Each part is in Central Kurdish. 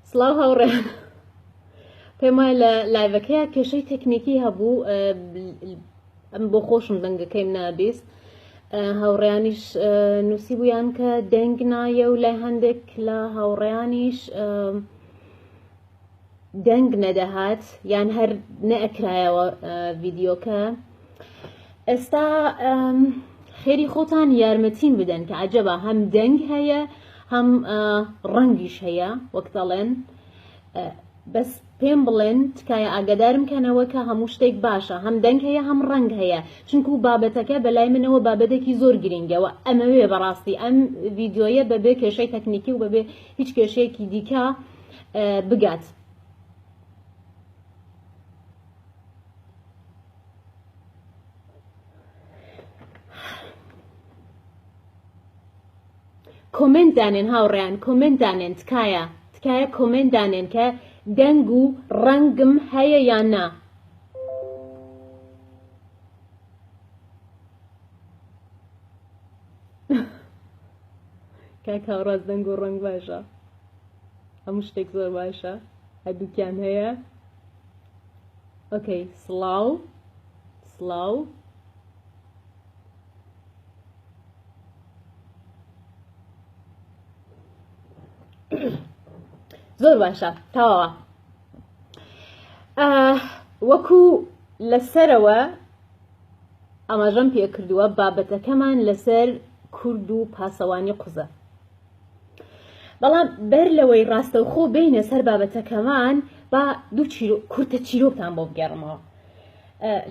سڵاو هاوڕێ پێم وایە لە لایڤەکەیە کێشەی تەکنیکی هەبوو ئەم بۆ خۆشم دەنگەکەیم نابیست هاوڕیانیش نووسی بوویان کە دەنگ نایە و لای هەندێک لە هاوڕیانیش دەنگ نەدەهات یان هەر نەئەکرایەوە ڤیددیوکە ئێستا خێری خۆتان یارمەتین بدەن کە عجبە هەم دەنگ هەیە هەم ڕەنگیش هەیە وەک دەڵێن بەس پێم بڵێن تکایە ئاگدارم کەنەوە کە هەموو شتێک باشە هەم دەنگ هەیە هەم ڕنگ هەیە چونکو و بابەتەکە بەلای منەوە بابەتێکی زۆر گرنگەوە ئەمەوێ بەڕاستی ئەم ڤیددیویە بەبێ کێشەی تەکنیکی و بەبێ هیچ کێشەیەکی دیکە بگات. کۆمنت دانێن هاوڕیان کۆمنت دانێن تکایە تکایە کۆمنت دانێن کە دەنگ و ڕەنگم هەیە یان نا کاکاڕاز دەنگ و ڕنگ باشە هەموو شتێک زۆر باشە هەردووکیان هەیە ئۆکەی سڵاو سڵاو زۆر باشە تاوە وەکو لەسەرەوە ئاماژەم پێکردووە بابەتەکەمان لەسەر کورد و پاسەوانی قوزە بەڵام بەر لەوەی ڕاستەوخۆ بینە سەر بابەتەکەمان با دوو کورتە چیرۆکتان بۆ بگەڕمەوە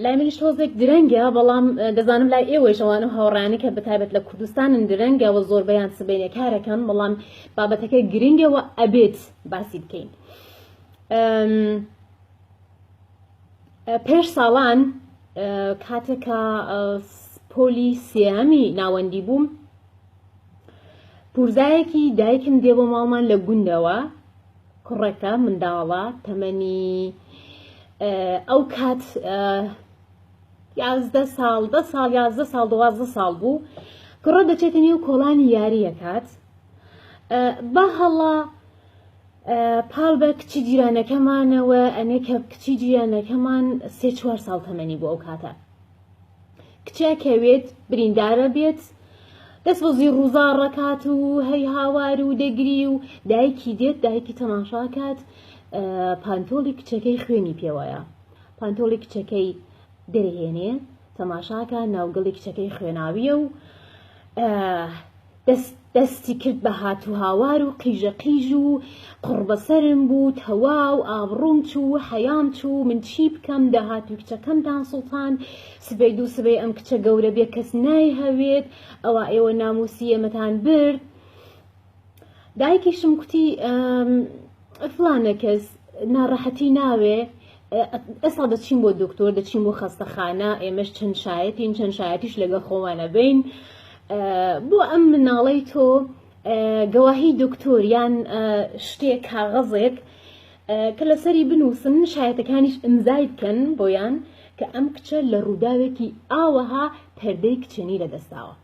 لای منیش تۆزێک درەنگە بەڵام دەزانم لای ئێوەی شەوان و هاوڕانی کە بەتابەت لە کوردستانن درەنگەوە زۆربەیان سبینە کارەکەن بەڵام بابەتەکە گرنگەوە ئەبێت باسی بکەین پێش ساڵان کاتێکە پۆلی سێمی ناوەندی بووم پورزایەکی دایکم دێ بۆ ماڵمان لە گوندەوە کوڕەکە منداڵە تەمەنی ئەو کات یازدە ساڵ دە ساڵ یازدە ساڵ دوازدە ساڵ بوو کوڕە دەچێتە نێو کۆڵانی یاریە کات بە هەڵا پاڵ بە کچی جیرانەکەمانەوە ئەنێ کە کچی جیرانەکەمان سێ چوار ساڵ تەمەنی بۆ ئەو کاتە کچێک هەوێت بریندارە بێت دەست بەزی ڕووزا ڕکات و هەی هاوار و دەگری و دایکی دێت دایکی تەماشاکات پانتۆڵی کچەکەی خوێنی پێوەیە پانتۆڵی کچەکەی دەرهێنێ تەماشاکە ناوگەڵی کچەکەی خوێناویە و دەست دەستی کرد بە هاتوهاوار و قیژە قیژ و قوڕبەسەرم بوو تەواو ئابڕووم چوو و حەیام چوو من چی بکەم داهاتووی کچەکەمتان سوڵتان سبەی دوو سبەی ئەم کچە گەورە بێ کەس نایهەوێت ئەوە ئێوە ناموسی ئێمەتان برد دایکیشم کوتی فڵانە کەس ناڕەحەتی ناوێ ئێستا دەچین بۆ دکتۆر دەچین بۆ خەستەخانە ئێمەش چەند شایەتین چەند شایەتیش لەگە خۆمانە بین بۆ ئەم مناڵی تۆ گەواهی دکتۆر یان شتێک کاغەزێک کە لەسەری بنووسن شایەتەکانیش ئەمزای بکەن بۆیان کە ئەم کچە لە ڕووداوێکی ئاوەها پەردەی کچێنی لەدەستاوە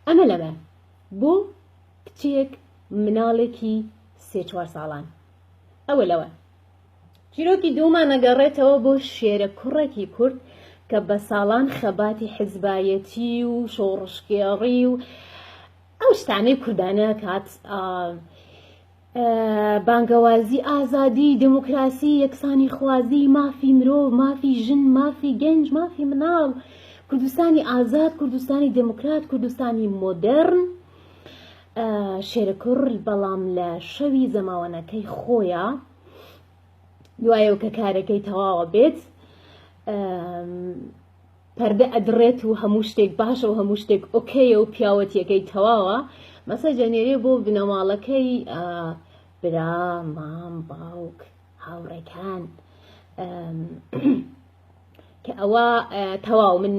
ئەمە لەمە بۆ کچێک مناڵێکی سێ چوار ساڵان ئەوە لەوە چیرۆکی دوومان نەگەڕێتەوە بۆ شێرە کوڕێکی کورد کە بە ساڵان خەباتی حزبایەتی و شۆڕشگێڕی و ئەو شتانەی کوردانە کات بانگەوازی ئازادی دموکراسی یەکسانی خوازی مافی مرۆ مافی ژن مافی گەنج مافی مناڵ کوردستانی ئازاد کوردستانی دموکرات کوردستانی مۆدرن شێرەکوڕ بەڵام لە شەوی زەماوەنەکەی خۆیە دوایەوە کە کارەکەی تەواوە بێت پەردە ئەدڕێت و هەموو شتێک باشە و هەموو شتێک ئۆکەیە و پیاوەتیەکەی تەواوە مەسە جەنێرێ بۆ بنەماڵەکەی برا مام باوک هاوڕێکان کە ئەوە تەواو من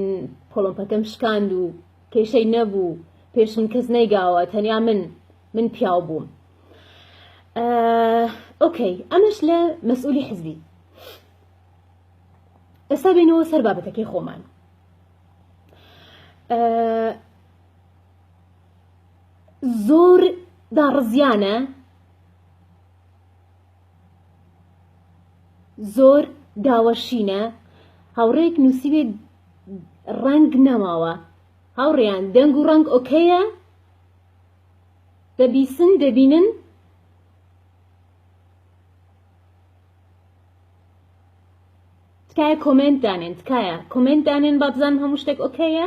پۆڵۆمپەکەم شکاند و کێشەی نەبوو پێش من کەس نەیگاوە تەنیا من من پیاو بووم ئۆکەی ئەمەش لە مەسئولی حزبی ئێستا بینەوە سەر بابەتەکەی خۆمان زۆر داڕزیانە زۆر داوە شینە هاوڕێک نووسیوێت ڕەنگ نەماوە هاوڕێیان دەنگ و ڕەنگ ئۆکەیە دەبیسن دەبینن تکایە کۆمنت دانێن تکایە کۆمنت دانێن با بزانم هەموو شتێک ئۆکەیە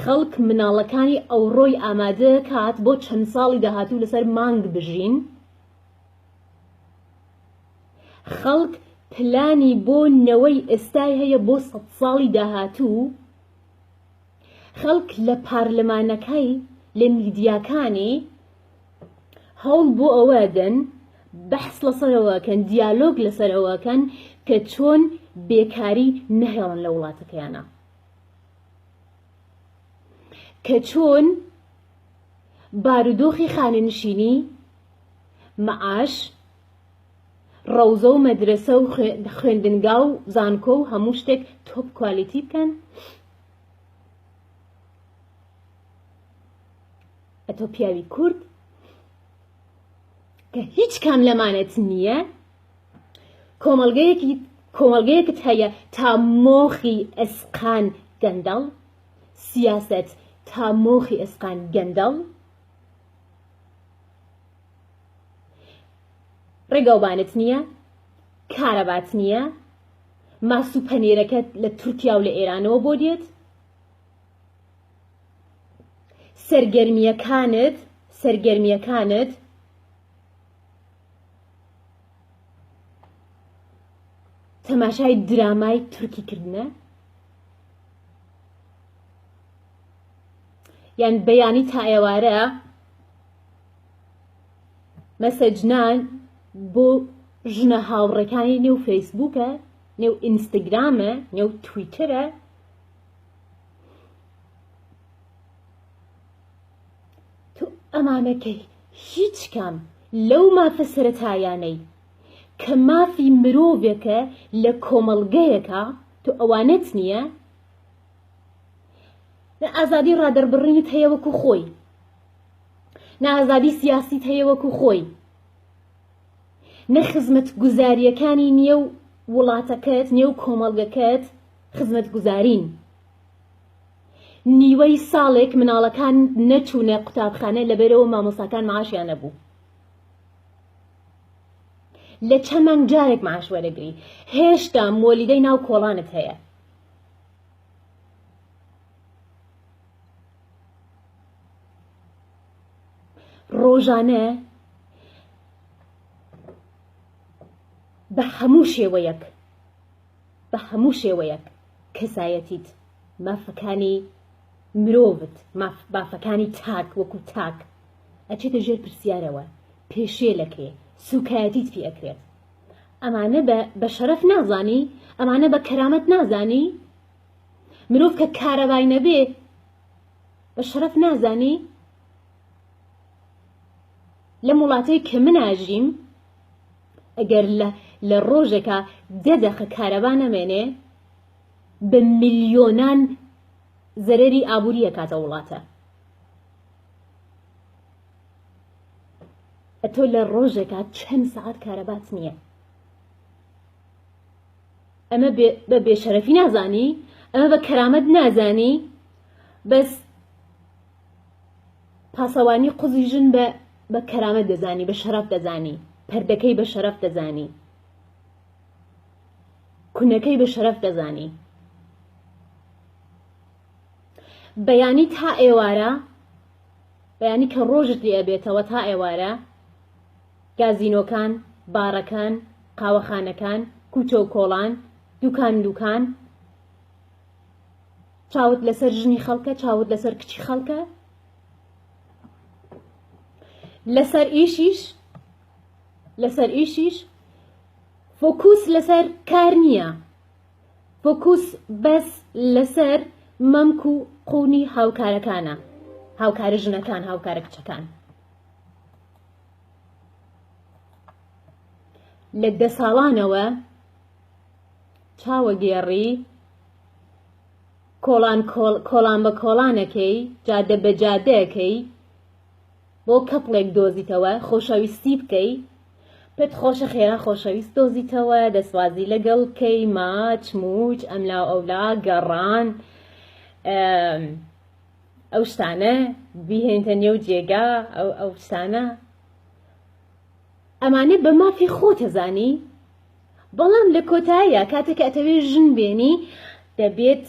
خەڵک مناڵەکانی ئەوڕۆی ئامادەکات بۆ چەند ساڵی داهاتوو لەسەر مانگ بژین، خەڵک پلانی بۆ نەوەی ئێستای هەیە بۆ سەد ساڵی داهاتوو، خەڵک لە پارلەمانەکەی لە میدیاکانی هەوڵ بۆ ئەوەدەن بەحس لەسەرەوەکەن دیالۆگ لەسەرەوەکەن کە چۆن بێکاری نەهێڵن لە وڵاتەکەیانە. کە چۆن بارودۆخی خانەنشینی، مەعاش، ڕەوزە و مەدرەسە و خوێندنگا و زانکۆ و هەموو شتێک تۆپ کوالیتی بکەن؟ ئەتۆ پیاوی کورد کە هیچ کام لەمانەت نییە کۆمەڵگەیەکت هەیە تا مۆخی ئێسقان گەندەڵ، سیاسەت تا مۆخی ئێسقان گەندەڵ، ڕێگاوبانت نییە، کارەبات نییە، ماس و پەنێرەکەت لە تورکیا و لە ئێرانەوە بۆ دێت، سەرگەرمییەکانت سەرگەرمییەکانت تەماشای درامای تورکی کردنە یان بەیانی تا ئێوارە مەسەجنان بۆ ژنە هاوڕەکانی نێو فەیسبووکە نێو ئینستاگرامە نێو تویتەرە تۆ ئەمانەکەی هیچ کام لەو مافە سەرەتایانەی کە مافی مرۆڤێکە لە کۆمەڵگەیەکا تۆ ئەوانەت نییە؟ نە ئازادی ڕادەربڕینت هەیە وەکو خۆی نە ئازادی سیاسیت هەیە وەکو خۆی نە خزمەت گوزاریەکانی نییە و وڵاتەکەت نێو کۆمەڵگەکەت خزمەت گوزارین نیوەی ساڵێک مناڵەکان نەچوونە قوتابخانە لەبەرەوە مامۆساکان معاشیان نەبوو لە چەند مانگ جارێک معاش وەرەگری هێشتا مۆلیدەی ناو کۆڵانت هەیە ڕۆژانە بە هەموو شێوەیەک بە هەموو شێوەیەک کەسایەتیت، مافەکانی مرۆڤت، مافەکانی تاک وەکو تاک ئەچێتە ژێر پرسیارەوە، پێشێلەکرێ، سوکایەتیت پێ ئەکرێت. ئەمانە بە شەرەف نازانی؟ ئەمانە بە کەرامەت نازانی؟ مرۆڤ کە کارەبای نەبێ بە شەرەف نازانی؟ لەم وڵاتەی کە من ئاژیم، ئەگەر لە ڕۆژێکا دە دەقە کارەبا نەمێنێ بە ملیۆنان زەرەری ئابووری ئەکاتە وڵاتە ئەتۆ لە ڕۆژێکا چەند سەعات کارەبات نییە ئەمە بە بێشەرەفی نازانی ئەمە بە کەرامەت نازانی بەس پاسەوانی قوزی ژن بە بە کەرامەت دەزانی بە شەرەف دەزانی پردەکەی بە شەرەف دەزانی کونەکەی بە شەرەف دەزانی بەیانی تا ئێوارە بەیانی کە ڕۆژت لێ بێتەوە تا ئێوارە گازینۆکان بارەکان قاوەخانەکان کوچە و کۆڵان دوکان دوکان چاوت لەسەر ژنی خەڵکە چاوت لەسەر کچی خەڵکە لەسەر ئیشیش لەسەر ئیشیش فۆکوس لەسەر کار نییە فۆکوس بەس لەسەر مەمک و قوونی هاوکارەکانە هاوکارە ژنەکان هاوکارە کچەکان لە دە ساڵانەوە چاوەگێڕی کۆڵان کۆڵان بە کۆڵانەکەی، جادە بە جادەکەی بۆ کەپڵێک دۆزیتەوە خۆشەویستی بکەی پێت خۆشە خێرا خۆشەویست دۆزیتەوە دەسوازی لەگەڵ کەی ماچ موچ ئەملا ئەولا گەڕان ئەو شتانە بیهێنتە نێو جێگا ئەو ئەو شتانە ئەمانە بە مافی خۆتەزانی بەڵام لە کۆتاییا کاتێک کە ئەتەوێ ژن بێنی دەبێت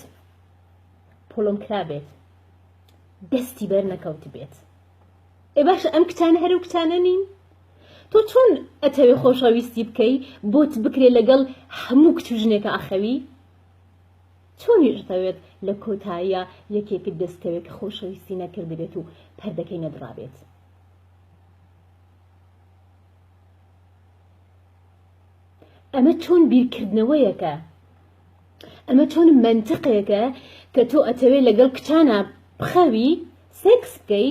پۆڵم کرابێت دەستی بەر نەکەوت بێت ئێ باشە ئەم کچانە هەرو کچانە نین تۆ چۆن ئەتەوێ خۆشەویستی بکەی بۆت بکرێ لەگەڵ هەموو کچ و ژنێکە ئەخەوی چۆنیشتەوێت لە کۆتاییە یەکێکت دەستکەوێت کە خۆشەویستی نەکردبێت و پەردەکەی نەدڕابێت ئەمە چۆن بیرکردنەوەیەکە ئەمە چۆن منتقێکە کە تۆ ئەتەوێ لەگەڵ کچانە بخەوی سێکس بکەی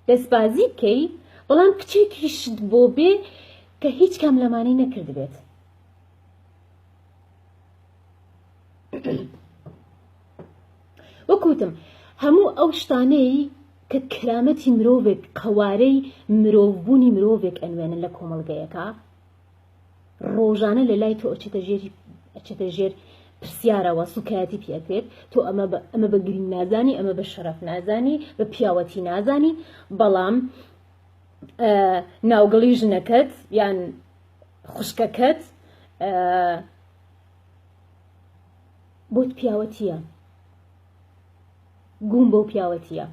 دەستبازی بکەی بەڵام کچێکیشت بۆ بێ کە هیچ کام لەمانەی نەکردبێت وەک وتم هەموو ئەو شتانەی کە کرامەتی مرۆڤێک قەوارەی مرۆڤبوونی مرۆڤێک ئەنوێنن لە کۆمەڵگەیەکە ڕۆژانە لە لای تۆ ئەچێتە ژێری ئەچێتە ژێر پرسیارەوە سوکایەتی پێکرێت تۆ ئەمە ئەمە بە گرنگ نازانی ئەمە بە شەرف نازانی بە پیاوەتی نازانی بەڵام ناوگەڵی ژنەکەت یان خوشکەکەت بۆت پیاوەتیە گووم بەو پیاوەتیە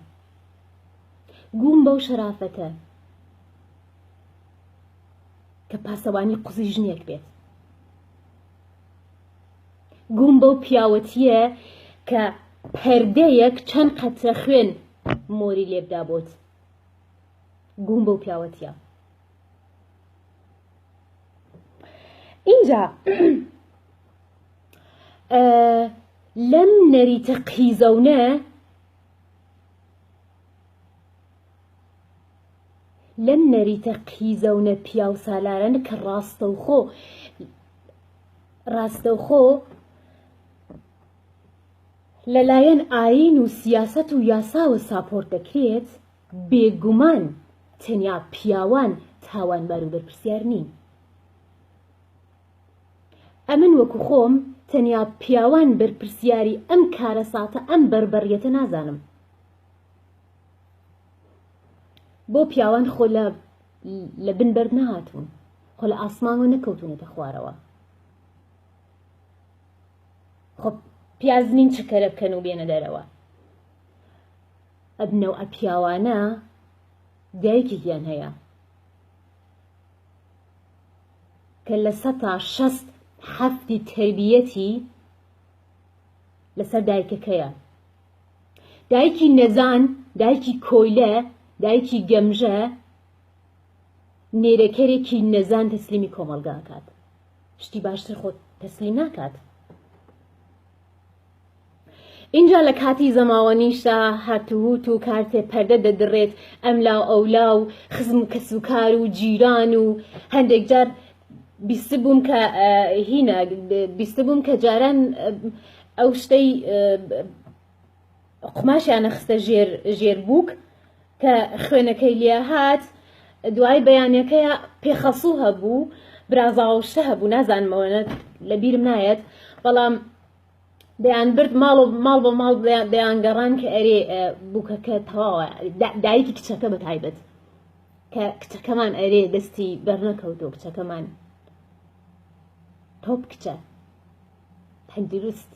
گووم بەو شەرافەتە کە پاسەوانی قوزی ژنێک بێت گووم بەو پیاوەتیە کە پەردەیەک چەند قەترە خوێن مۆری لێبدا بۆت گووم بەو پیاوەتیە اینجا لەم نەریتە قیزەونە لەم نەریتە قیزەونە پیاو سالارن کە ڕاستەوخۆ ڕاستەوخۆ لەلایەن ئاین و سیاست و یاساوە ساپۆرت دەکرێت بێگومان تەنیا پیاوان تاوانبار و بەرپرسیار نین. ئەمن وەکو خۆم تەنیا پیاوان بەرپرسیاری ئەم کارەساتە ئەم بەربەریەتە نازانم بۆ پیاوان خۆ لە لە بن بەرد نەهاتوون خۆ لە ئاسمانەوە نەکەوتونەتە خوارەوە خۆ پیازنین چکەرە بکەن و بێنە دەرەوە ئەبنەو ئە پیاوانە دایکێکیان هەیە کە لە سەتا شەست حەفتی تەربیەتی لەسەر دایکەکەیە دایکی نەزان دایکی کۆیلە دایکی گەمژە نێرەکەرێکی نەزان تەسلیمی کۆمەڵگاکات شتی باشتر خۆت تەسلیم ناکات ئینجا لە کاتی زەماوەنیشدا هاتووت و کارتێ پەردە دەدڕێت ئەم لا و ئەولا و خزم و کەس و کار و جیران و هەندێک جار بیستبووم کە هینا بیستبووم کە جاران ئەو شتەی قوماشیانە خستە ژێر ژێر بووک کە خوێنەکەی لێ هات دوای بەیانەکەی پێخەسوو هەبوو برازاوشتە هەبوو نازانمەوەە لە بیرم نایەت بەڵام دەیانبرد ماڵ و ماڵ بۆ ماڵ دەیانگەڕان کە ئەرێ بووکەکە تەواوە دایکی کچەکە بە تایبەت کە کچەکەمان ئەرێ دەستی بەرنەکەوتۆ کچەکەمان تۆپ کچە تەندروست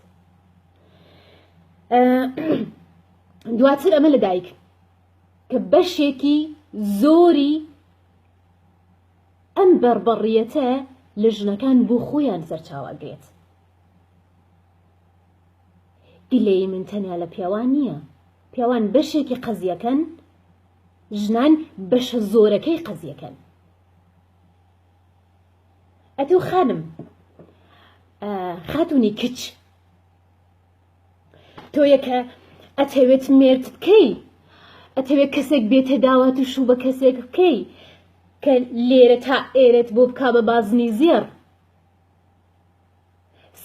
دواتر ئەمە لە دایک کە بەشێکی زۆری ئەم بەربڕیەتە لە ژنەکان بۆ خۆیان سەرچاواگرێت گلەیی من تەنیا لە پیاوان نییە پیاوان بەشێکی قەزیەکەن ژنان بەشە زۆرەکەی قەزیەکەن ئەتۆ خانم خاتونی کچ تۆ یەکە ئەتەوێت مێرت بکەی ئەتەوێت کەسێک بێتە داوات و شوو بە کەسێک بکەی کە لێرە تا ئێرت بۆ بک بە بازنی زێڕ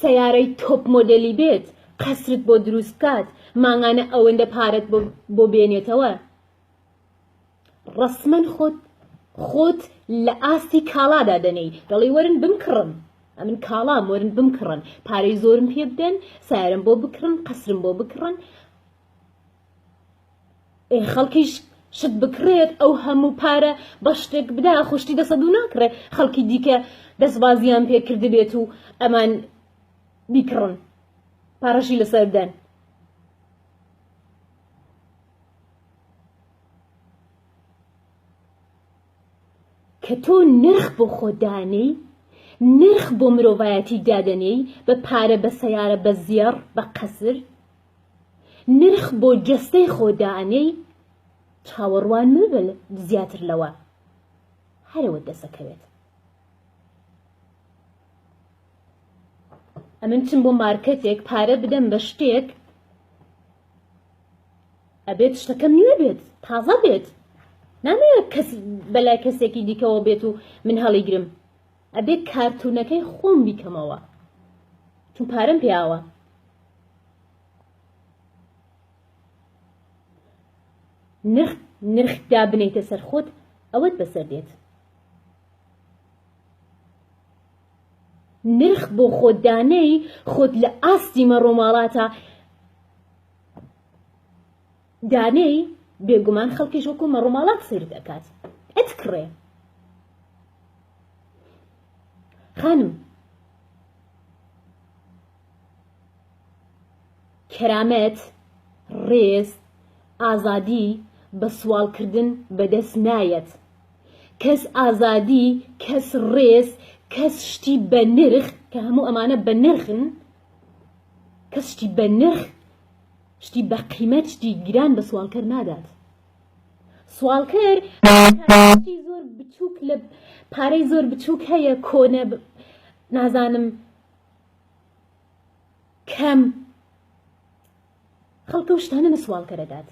سەیارەی تۆپ مۆدێلی بێت قەسرت بۆ دروست بکات مانگانە ئەوەندە پارەت بۆ بێنێتەوە ڕسمەن خۆت خۆت لە ئاستی کاڵادا دەنێی دەڵی وەرن بمکڕن ئەمن کاڵا مۆرن بمکڕن پارەی زۆرم پێ بدەن سارم بۆ بکڕن قەسرم بۆ بکڕن ئێ خەڵکیش شت بکڕێت ئەو هەموو پارە بە شتێک بدا خوشتی دەسە دوو ناکڕێ خەڵکی دیکە دەستبازیان پێکرد بێت و ئەمان بیکڕن پارەشی لەسەر بدەن کە تۆ نرخ بۆ خۆدانەی نرخ بۆ مرۆڤایەتی دادەنێی بە پارە بە سەیارە بە زێڕ بە قەسر نرخ بۆ جەستەی خۆ دائەنێی چاوەڕوان مەبە زیاتر لەوە هەرەوە دەسەکەوێت. ئەمن چم بۆ مارکەتێک پارە بدەم بە شتێک ئەبێت شتەکەم نوێ بێت تازە بێت نامەوێت کەس بەلای کەسێکی دیکەەوە بێت و من هەڵیگرم ئەبێت کارتونەکەی خۆم بیکەمەوە چون پارەم پیاوە نرخ نرخ دابنێیتە سەر خۆت ئەوەت بەسەر دێت نرخ بۆ خۆت دانێی خۆت لە ئاستی مەڕۆماڵاتە دانێی بێگومان خەڵکیش وەکو مەڕۆماڵات سیر دەکات ئەتکڕێ خانم کەرامەت، ڕێز، ئازادی بە سواڵکردن بەدەست نایەت. کەس ئازادی، کەس ڕێز، کەس شتی بە نرخ، کە هەموو ئەمانە بە نرخن، کەس شتی بە نرخ، شتی بە قیمەت، شتی گران بە سواڵکەر نادات. سواڵکەر شتی زۆر بچووک لە پارەی زۆر بچووک هەیە، کۆنە، نازانم، کەم خەڵکە و شتانە نە سوال کەرەدات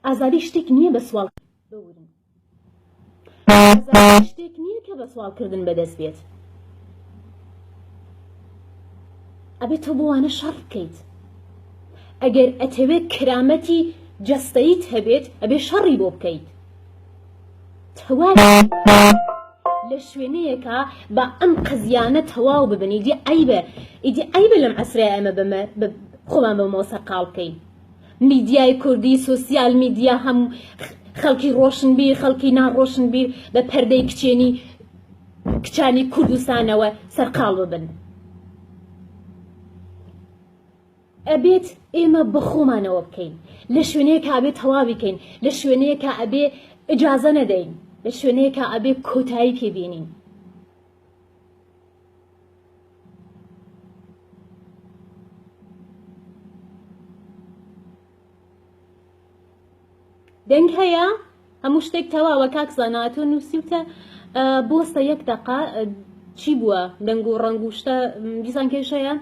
ئازادی شتێک نییە بە سوال بورن شتێک نییە کە بە سوالکردن بەدەست بێت ئەبێت تۆ بۆوانە شەڕ بکەیت ئەگەر ئەتەوێت کرامەتی جەستەیت هەبێت ئەبێ شەڕی بۆ بکەیت تەواوی لە شوێنەیەکا با ئەم قەزیانە تەواو ببن ئیدی عیبە ئیدی عیبە لەم عسرە ئەمە بەمە خۆمان بە مۆسە قاڵ بکەین میدیای کوردی سوسیال میدیا هەم خەڵکی ڕۆشنبیر خەڵکی ناڕۆشنبیر بە پەردەی کچێنی کچانی کوردستانەوە سەرقاڵ ببن ئەبێت ئێمە بەخۆمانەوە بکەین لە شوێنەیەکا ئەبێ تەواوی کەین لە شوێنەیەکا ئەبێ ئجازە نەدەین لە شوێنەیەکا ئەبێ کۆتایی پێ بینین دەنگ هەیە هەموو شتێک تەواوە کاک زانا تۆ نووسیوتە بۆستە یەک دەقا چی بووە دەنگ و ڕنگ و شتە دیسان کێشەیە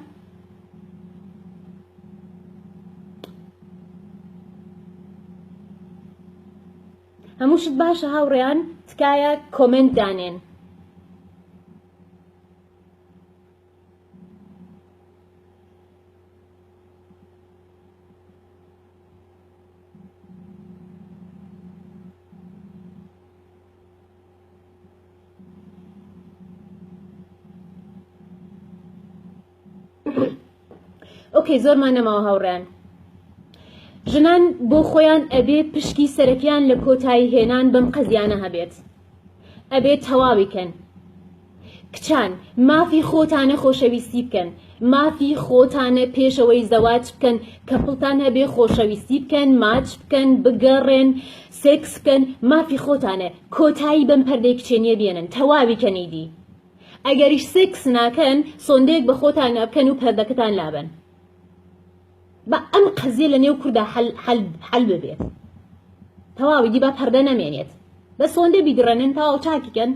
هەموو شت باشە هاوڕێیان تکایە کۆمنت دانێن ئۆکەی زۆرمان نەماوە هاوڕێن ژنان بۆ خۆیان ئەبێ پشکی سەرەکیان لە کۆتایی هێنان بەم قەزیانە هەبێت ئەبێت تەواوی کەن کچان مافی خۆتانە خۆشەویستی بکەن مافی خۆتانە پێشەوەی زەواج بکەن کەپڵتان هەبێ خۆشەویستی بکەن ماچ بکەن بگەڕێن سێکس بکەن مافی خۆتانە کۆتایی بەم پەردەی کچێنیە بێنن تەواوی کەنیدی ئەگەریش سێکس ناکەن سۆندەیەک بە خۆتان نابکەن و پەردەکەتان لابن با ئەم قەزیە لە نێو کوردا حل ببێت تەواوی دی با پەردە نەمێنێت بە سۆندە بیدڕێنن تەواو چاکیکەن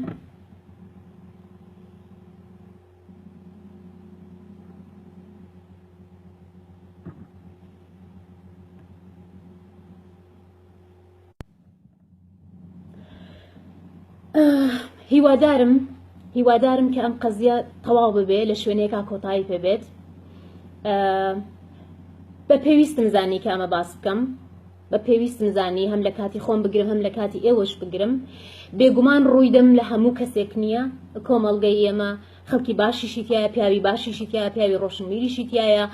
هیوادارم هیوادارم کە ئەم قەزیە تەواو ببێ لە شوێنێکا کۆتایی پێبێت بە پێویستم زانی کە ئەمە باس بکەم بە پێویستم زانی هەم لە کاتی خۆم بگرم هەم لە کاتی ئێوەش بگرم بێگومان ڕوویدەم لە هەموو کەسێک نییە کۆمەڵگەی ئێمە خەڵکی باشیشی تایە پیاوی باشیشی تیا پیاوی ڕۆشنبیریشی تایە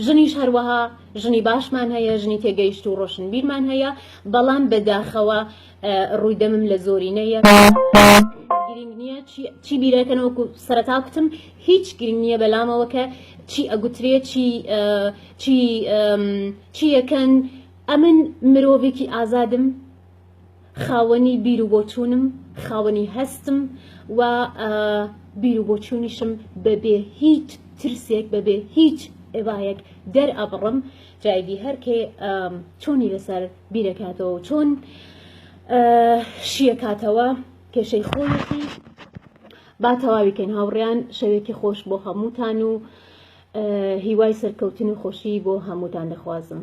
ژنیش هەروەها ژنی باشمان هەیە ژنی تێگەیشت و ڕۆشنبیرمان هەیە بەڵام بەداخەوە ڕووی دەمم لە زۆرینەیە گرنگ نییە چی بیرەکەنەوەکو سەرتا کوتم هیچ گرنگ نییە بەلامەوە کە چی ئەگوترێ چی چی چیەکەن ئەمن مرۆڤێکی ئازادم خاوەنی بیر و بۆچوونم، خاوەنی هەستم و بیر و بۆچوونیشم بەبێ هیچ ترسێک بەبێ هیچ ئێبایەک دەرئەبڕم جایدی هەرکێ چۆنی لەسەر بیرەکاتەوە چۆن شیەکاتەوە کێشەی خۆیەتی با تەواویکەین هاوڕیان شەوێکی خۆش بۆ هەمووتان و هیوای سەرکەوتن و خۆشی بۆ هەمووتان دەخوازم.